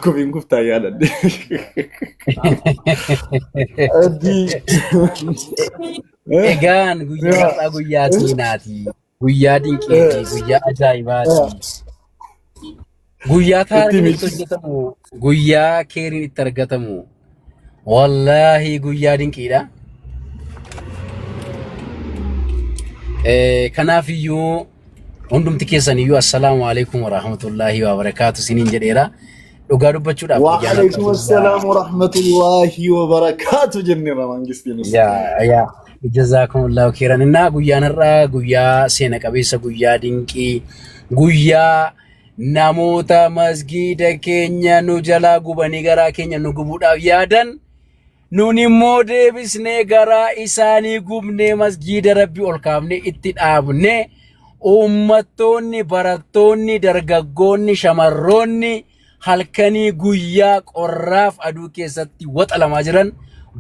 Kofiin guftaa yaadadde. Addii. Egaan guyyaa Yaa. har'aa guyyaa seenaati. Guyyaa dinqiiti. Guyyaa ajaa'ibaati. Guyyaa taariin itti miidhagina. hojjetamu. Guyyaa keeriin itti argatamu. Wallaahi guyyaa dinqiidha. Eh, Kanaaf iyyuu hundumti keessan iyyuu assalaamu alaikum warahmatullaahi wabarakaatu isiniin jedheera. Dhugaa dubbachuudhaaf guyyaan har'a Waalaikum guyyaa assalam wa rahmatullahi wa barakatuh jennera mangistiin yaa ustaadha. yaa jazaakumullaahu khairan innaa guyyaan har'a guyyaa seena qabeessa guyyaa dinqii guyyaa namoota masgiida keenya nu jalaa gubanii garaa keenya nu gubuudhaaf yaadan nun immoo deebisnee garaa isaanii gubnee masgiida rabbi ol kaafne itti dhaabne uummattoonni barattoonni dargaggoonni shamarroonni halkanii guyyaa qorraaf aduu keessatti waxalamaa jiran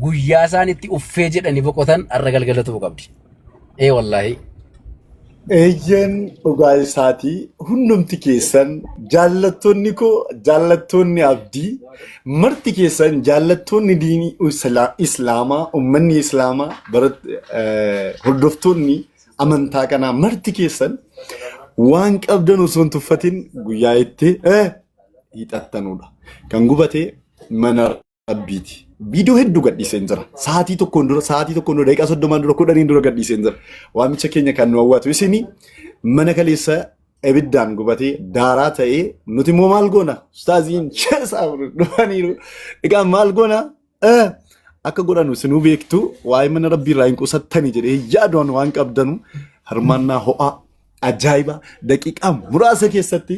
guyyaa isaan itti uffee jedhanii boqotan har'a galgalatu qabdi. Ee wallaahi. Eeyyeen dhugaa isaatii hundumti keessan jaallattoonni koo jaallattoonni abdii marti keessan jaallattoonni diinii isla- islaamaa ummanni islaamaa barat- eh, hordoftoonni amantaa kanaa marti keessan waan qabdan osoo hin tuffatin guyyaa itti eh, hiixattanudha. Kan gubate mana Rabbiiti. Viidiyoo hedduu gadhiiseen jira. Sa'aatii tokkoon dura, sa'aatii tokkoon dura, daqiiqaa soddomaan dura, kudhaniin dura gadhiiseen jira. Waamicha keenya kan nu hawwatu isinii mana kaleessa ibiddaan gubatee daaraa ta'ee nuti immoo maal goona? Ustaaziin sheesaa dhufaniiru. Egaa maal goona? Eh, Akka godhanu isinuu beektu waa'ee mana rabbii irraa hin qusattani jedhee yaadoon waan qabdanu hirmaannaa ho'aa ajaa'iba daqiiqaa muraasa keessatti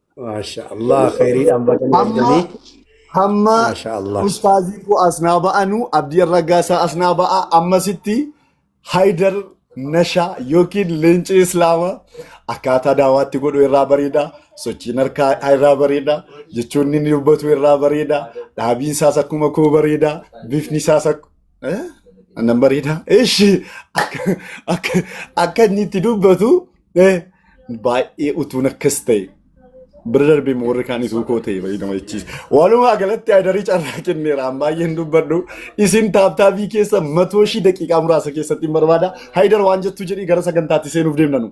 Maasha Allah khayriidhaan baga nu Hamma arganii. hamma Maasha Allah. ustaazii koo asnaa ba'anu abdii raggaasaa asnaa ba'a ammasitti haydar nashaa yookiin leenci islaama akkaataa daawaatti godhu irraa bareeda sochiin harkaa irraa bareeda jechoonni inni dubbatu irraa bareeda dhaabiin isaas akkuma koo bareeda bifni isaas akkuma Eh? Annan bareedaa. Eshi akka akka akka inni itti dubbatu eh, baay'ee utuun akkas ta'e. Bira darbee immoo warri kaan ituu koo ta'e baay'ee nama jechiisa. Walumaa galatti aydarii carraa kenneera. An baay'een dubbadhu. Isin taaptaabii keessa matoo ishii daqiiqaa muraasa keessatti hin barbaada. Haydar waan jettu jedhii gara sagantaatti seenuuf deemna nu.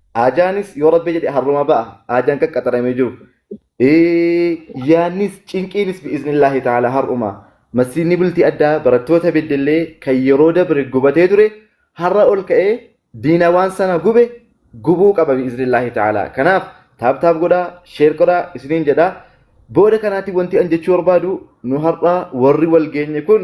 Aajaanis yoo rabbi jedhe harruma ba'a. Aajaan qaqqaxaramee jiru. Yaannis cinqiinis bi'iznillaahi ta'ala har'uma. Masjiidni bultii addaa barattoota beddellee kan yeroo dabre gubatee ture har'a ol ka'ee diina waan sana gube gubuu qaba bi'iznillaahi ta'ala. Kanaaf taap taap godhaa sheer godhaa isiniin jedhaa. Booda kanaatti wanti an jechuu barbaadu nu har'a warri wal geenye kun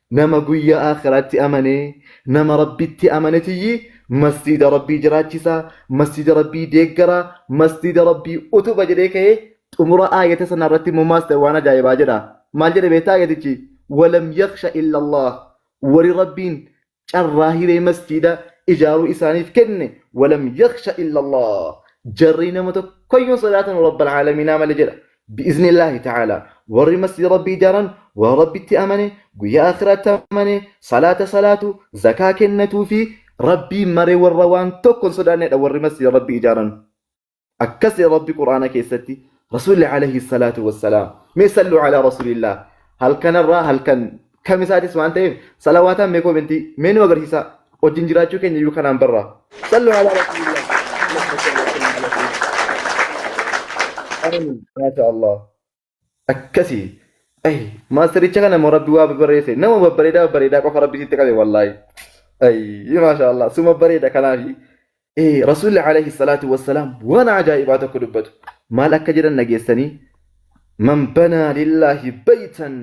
Nama guyya aakhiraatti amane, nama Rabbitti amane tiyyi masjiida Rabbii jiraachisa, masjiida Rabbii deeggara, masjiida Rabbii utuba jedhee ka'e xumura aayata sana irratti immoo maas ta'e waan ajaa'ibaa jedha. Maal jedhe beektaa aayatichi? Walam yakhsha illa Allah. Wari Rabbiin carraa hiree masjiida ijaaruu isaaniif kenne walam yakhsha illa Allah. Jarri nama tokkoyyuu hin sodaatanu Rabbal Aalamiinaa malee jedha. Bi'iznillaahi ta'aalaa warri masjida Rabbii ijaaran warra Rabbitti amane, guyyaa aakhiraatti amane, salaata salaatu, zakaa kennatuu fi Rabbiin mare warra waan tokko hin sodaannedha warri masjida Rabbii ijaaran. Akkas jedha Rabbi Qur'aana keessatti Rasuulli alayhi salaatu wassalaam. Mee sallu alaa Rasuulillaah. Halkanarraa halkan Kam isaatis waan ta'eef salawaataan mee koomentii mee nu agarsiisaa wajjin jiraachuu keenya iyyuu kanaan barraa. Sallu ala rasuulillah. Maasha Allah. Akkasi. Ay, maastaricha kana immoo rabbi waa babbareesse. Nama babbareedaa babbareedaa qofa rabbi sitti qabe wallaahi. Ay, maasha Allah. Suma bareeda kanaafi. Ee, Rasuulli alayhi salaatu wassalaam waan ajaa'ibaa tokko dubbatu. Maal akka jedhan dhageessanii? Man banaa lillaahi baytan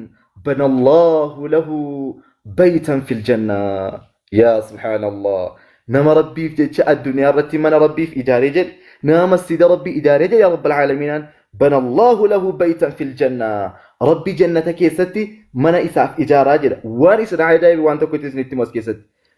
bana Allaahu lahu baytan fil janna. Yaa subhaanallah. Nama Rabbiif jecha addunyaa irratti mana Rabbiif ijaaree jedhe, nama masjida Rabbii ijaaree jedhe yaa Rabbal Aalamiinaan bana Allaahu lahu baytan fil janna. Rabbi jannata keessatti mana isaaf ijaaraa jedha. Waan isin ajaa'ibe waan tokko itti isinitti himu as keessatti.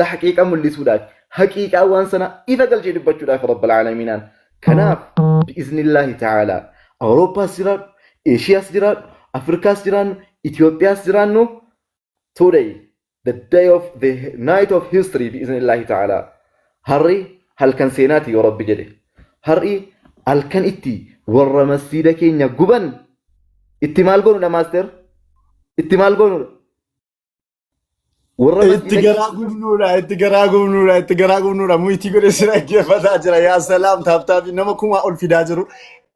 tahqiiqa mul'isuudhaafi haqiiqaa waan sanaa ifa galchee dubbachuudhaafi rabbil aalamiinaan kanaaf bi'iznillaahi ta'aalaa awurooppaas jiraadhu eeshiyaas jiraadhu afrikaas jiraannu itiyoophiyaas jiraannu today the day of the night of history bi'iznillaahi ta'aalaa har'i halkan seenaati yoo rabbi jedhe har'i halkan itti warra masjiida keenya guban itti maal goonudha maaster itti maal goonudha Warra Itti masjiida garaa gubnuudha, itti garaa gubnuudha, itti garaa gubnuudha. Muyitii godhe si dhaggeeffataa jira. Yaa salaam taaptaabii nama kumaa ol fidaa jiru.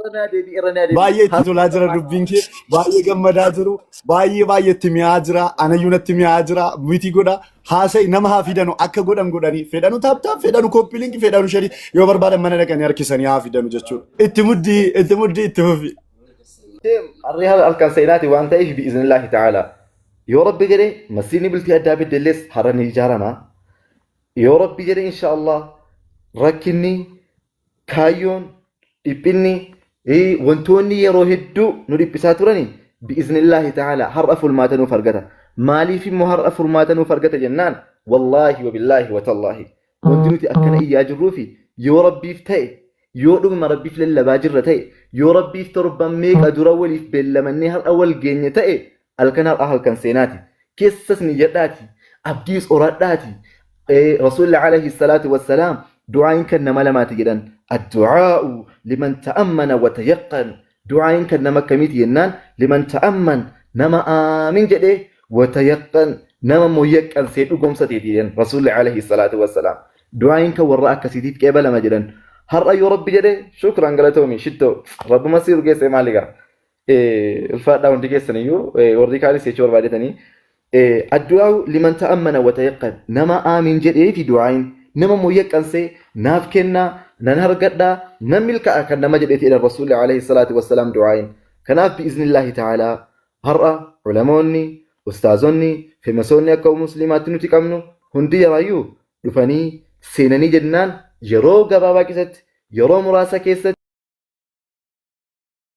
irra naa deebi'i irra naa deebi'i. Baay'ee itti tolaa jira dubbiin kee. Baay'ee gammadaa jiru. Baay'ee baay'ee itti mi'aa jira. Anayyuu natti mi'aa jira. Muyitii godha. Haasa'i nama haa fidanu akka godhan godhanii. Fedhanu taaptaab, fedhanu kooppilinki, fedhanu sharii yoo barbaadan mana dhaqanii harkisanii haa fidanu jechuudha. Itti muddii, itti muddii, itti fufi. Deem harree halkan seenaati waan ta'eef bi'iznillaahi ta'aalaa. Yoo rabbi jedhe masjiidni bultii addaa beddellees har'a ni ijaarama. Yoo rabbi jedhe insha Allah rakkinni kaayyoon dhiphinni eh, wantoonni yeroo hedduu nu dhiphisaa turani bi'iznillaahi ta'ala har'a furmaata nuuf argata. Maaliif immoo har'a furmaata nuuf argata jennaan wallaahi wabillaahi watallaahi wanti nuti akkana iyyaa jirruufi yoo rabbiif ta'e yoo dhuguma rabbiif lallabaa jirra ta'e yoo rabbiif torban meeqa dura waliif beellamannee har'a wal geenye ta'e Halkan har'aa halkan seenaati. Keessas niyyadhaati. Abdiis horadhaati. Rasuulli alayhi salaatu wassalaam du'aayin kan nama lamaati jedhan. Addu'aa'u liman ta'ammana wa tayaqqan. Du'aayin kan nama akkamiiti jennaan liman ta'amman nama aamin jedhee wa tayaqqan nama immoo yaqqansee dhugomsateeti jedhan Rasuulli alayhi salaatu wassalaam. Du'aayin kan warra akkasiitiif qeebalama jedhan. Har'a yoo Rabbi jedhe shukran galatoomi shittoo. Rabbuma si urgeessee maaligaa. Eh, ulfaadhaa hundi keessan iyyuu eh, warri kaanis jechuu barbaadetanii eh, addu'aa liman ta'ammana wa tayaqqan nama aamiin jedhee fi du'aayin nama immoo yaqqansee naaf kennaa nan hargadhaa nan milka'a kan nama jedheeti jedhan rasuulli alayhi salaatu wassalaam du'aayin kanaaf bi'iznillaahi ta'aalaa har'a ulamoonni ustaazonni femasoonni akka musliimaatti nuti qabnu hundi yaraayyuu dhufanii seenanii jennaan yeroo gabaabaa keessatti yeroo muraasa keessatti